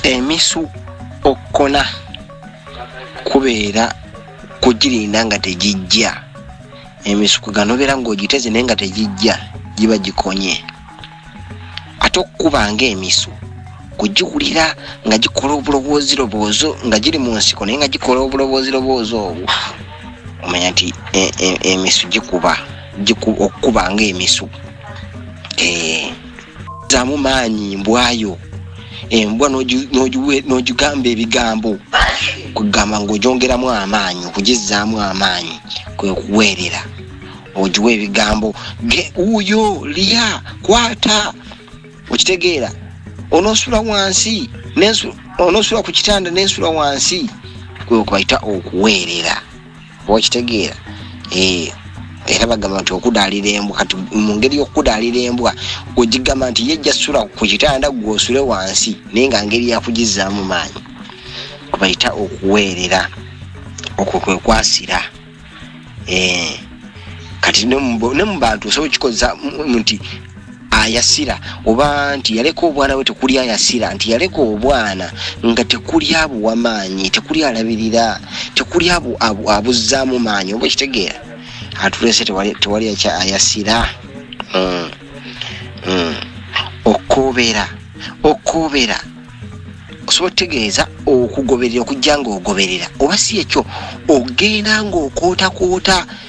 emisu okukona kubeera kugirinda nga tegijja emisuku ganobeera ng'ogiteze naye nga tegijja giba gikonye ate okukuba ng'emisu kugiwulira nga gikola obulowoozi loboozo nga giri mu nsiko naye nga gikola obulowoozi loboozi obwo omanya nti e, e, emisu gikuba okukuba ng'emisu ee eh. zamu maanyi mbwayo embwa n'ogigamba ebigambo kugamba ng'ogyongeramu amaanyi okugizzaamu amaanyi kwe kuweerera ogiwa ebigambo ge wuuyo liya kwata okitegeera onoosula wansi onoosula ku kitanda n'ensula wansi kwe kubayita okuweerera okitegeera eh, era bagamba nti okudaalira embwa kati mu ngeri y'okudaalira embwa ogigamba nti ye jasula ku kitanda gwosule wansi naye nga ngeri yakugizzaamu maanyi kubayita okuweerera okwo kwe kwasira eh, kati ne mu bantu osobola okikozesa nti ayasira oba nti yaleka obwana bwe tekuli ayasira nti yaleka obwana nga tekuli abuwa maanyi tekuli alabirira tekuli abuzzaamu maanyi oba ekitegeera atulese tewali akya ayasira mm. Mm. okobera okobera osobola okutegeeza okugoberera okujja ngaogoberera oba si ekyo ogenda ngaokootakoota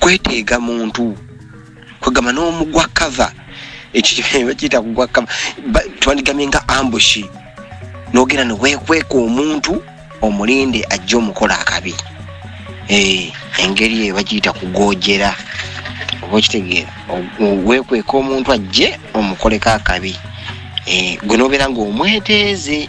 kweteega muntu kwegamba n'omugwa kava ekibakiyita kugwa kava twandigamye nga ambushi nogenda newekweka omuntu omulinde ajja omukola akabi eh, engeri eyo bakiyita kugojera oba okitegeera wekweka omuntu ajje omukoleko akabi eh, gwe nobeera ngaomweteeze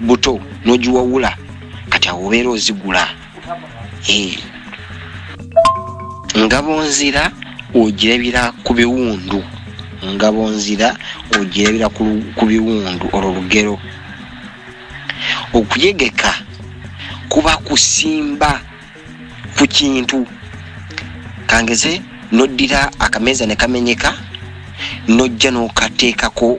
buto nogiwawula kati awo obeera ozigula eh. ngabo nzira ogirabira ku biwundu ngabo nzira ogirabira ku biwundu olwo lugero okuyegeka kuba kusimba ku kintu kangeze noddira akameeza ne kamenyeka nojja n'okateekako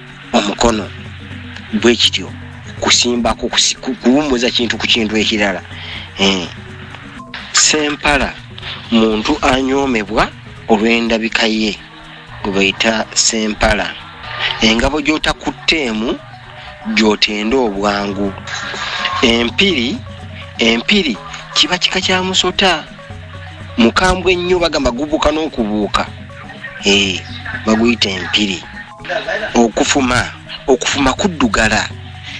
omukono bwe kityo kusimbako kuwummuza kintu ku kintu ekirala eh. sempala muntu anyoomebwa olw'endabika ye gwe bayita sempala engabo gy'otakutteemu gy'otenda obwangu empiri empiri kiba kika kya musota mukambwe ennyo bagamba gubuuka n'okubuuka eh, baguyita empiri okufuma okufuma kuddugala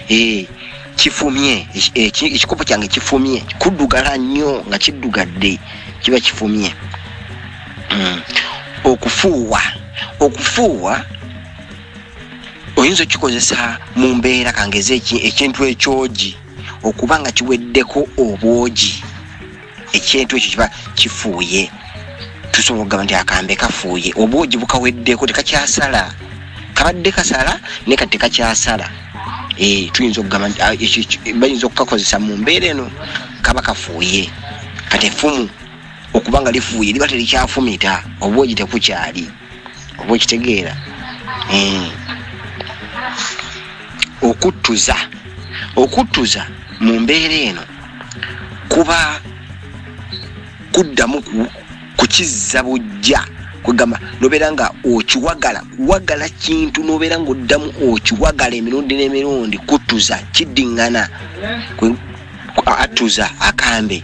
eh, kifumye ekikopo kyange kifumye kuddugala nnyo nga kiddugadde kiba kifumye hmm. okufuuwa okufuuwa oyinza okikozesa mu mbeera kangeza ekintu ekyogi okuba nga kiweddeko obwogi ekintu ekyo kiba kifuuye tusobola okugamba nti akambe kafuuye obwogi bukaweddeko tekakyasala kabadde kasala naye kati tekakyasala eh, tuyinza okugamba nti ah, bayinza okukakozesa mu mbeera eno kaba kafuuye kati efumu okubanga lifuuye liba telikyafumita obwogi tekukyali oba okitegeera hmm. okuttuza okuttuza mu mbeera eno kuba kuddamu kukizza bujja kwegamba nobeera nga okiwagala kuwagala kintu nobeera nga oddamu okiwagala emirundi n'emirundi kuttuza kiddiŋŋana attuza akambe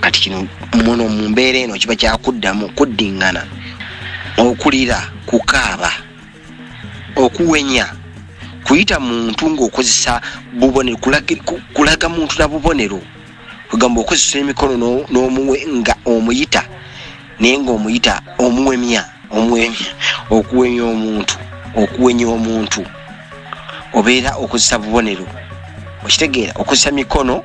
kati kino muno mu mbeera eno kiba kyakuddamu kuddingana okulira kukaaba okuwenya kuyita muntu ngaokozesa bubonero kulaga muntu na bubonero kwegamba okozesa emikono nomuwe nga omuyita naye nga omuyita omuwemya omuwemya okuwenya omuntu okuwenya omuntu obeera okozesa bubonero okitegeera okozesa mikono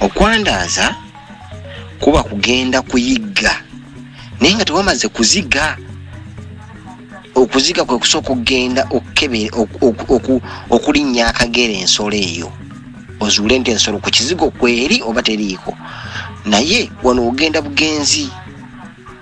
okwandaaza kuba kugenda kuyigga naye nga tewamaze kuziga okuziga kwe kusooka okugenda okulinnya akagera ensolo eyo ozuule nti ensolo ku kizigo kweri oba teriiko naye wano ogenda bugenzi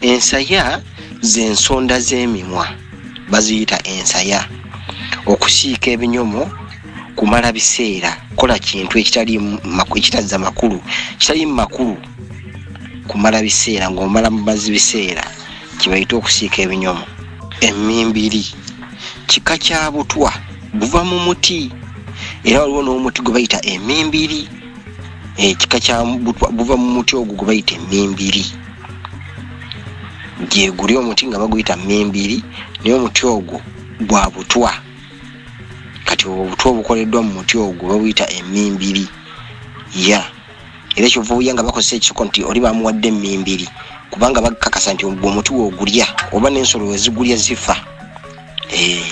ensaya z'ensonda z'emimwa baziyita ensaya okusiika ebinyomo kumala biseera kola kintu ekitazza makulu kitalimu makulu kumala biseera ng'omala mubazi biseera kibayita okusiika ebinyomo emimbiri kika kya butwa guva mu muti era waliwo n'omuti gwe bayita emimbiri ekika eh, kya butwa guva mu muti ogwo gwe bayita emimbiri nti eguli omuti nga baguyita mimbiri naye omuti ogwo gwa butwa kati obutwa obukoleddwa mu muti ogwo babuyita emimbiri ya era kyova owuya nga bakozesa ekisoko nti oli bamuwadde emimbiri kubanga bakakasa nti ogwo omuti wogulya oba n'ensolo wezigulya zifa eh,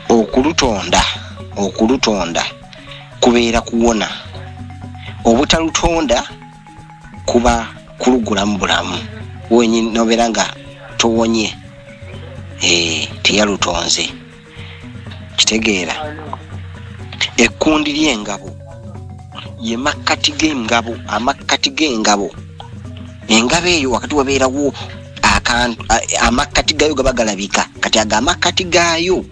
okulutonda okulutonda kubeera kuwona obutalutonda kuba kulugulamu bulamu wenyini nobeera nga towonye eh, teyalutonze kitegeera ekkundi ly'engabo ye makkati g'engabo amakkati g'engabo engabo eyo wakati wabeerawo amakkati gaayo gaba galabika kati ago amakkati gaayo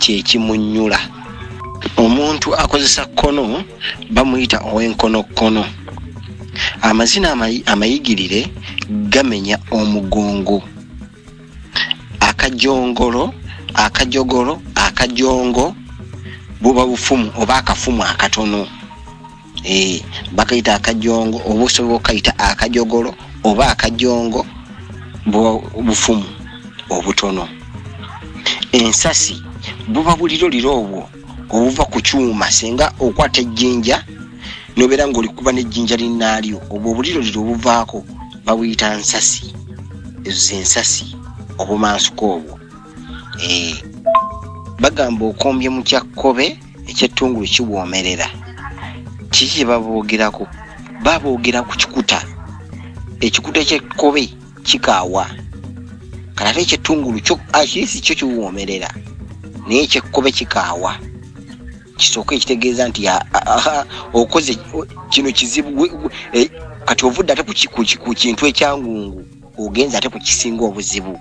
kyekimunyula omuntu akozesa kkono bamuyita ow'enkonokkono amazina amayigirire gamenya omugongo akajongolo akajogolo akajongo buba bufumu oba akafumu akatono Eh, bakayita akajongo oba osobola okayita akajogolo oba akajongo bufumu obutono ensasi buba buliro liro obwo obuva ku kyuma singa okwata ejjinja nobeera ngaolikuba nejjinja linaalyo obwo obuliro liro obuvaako babuyita nsasi ezo zensasi obumansuka obwo eh, bagamba okombye mukyakkobe ekyettungulu kiwoomerera kiki kye baboogerako baboogera ku kikuta ekikuta kyekkobe kikaawa kati ate ekyettungulu kyo akirisi ah, kyo kiwoomerera naye ekyekkobe kikaawa kisooka ekitegeeza nti okoze kino kizibu e, kati ovudde ate ku kintu ekyangungu ogenze ate ku kisinga obuzibu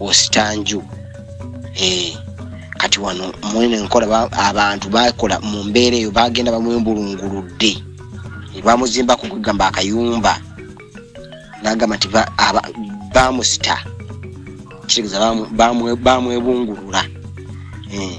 osita nju eh, kati wano mwene nkola abantu bakola mu mbeera eyo bagenda bamwembulunguludde bamuzimbako kwegamba akayumba nagamba nti bamusita kitegeeza bamwebungulula eh.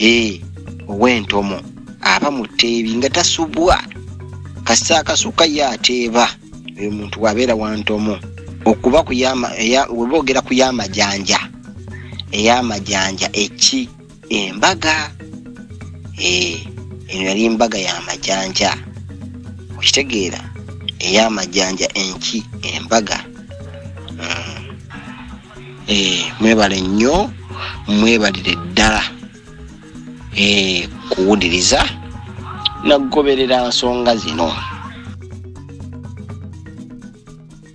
ee ow'entomo aba mu tteebi nga tasubwa kasita akasuka ye ateeba oyo muntu wabeera wa ntomo okuba weboogera ku y'amajanja ey'amajanja eki embaga ee eno yali embaga y'amajanja okitegeera ey'amajanja enki embaga mm. eh, mwebale nnyo mwebalire ddala eh, kuwuliriza nakugoberera nsonga zino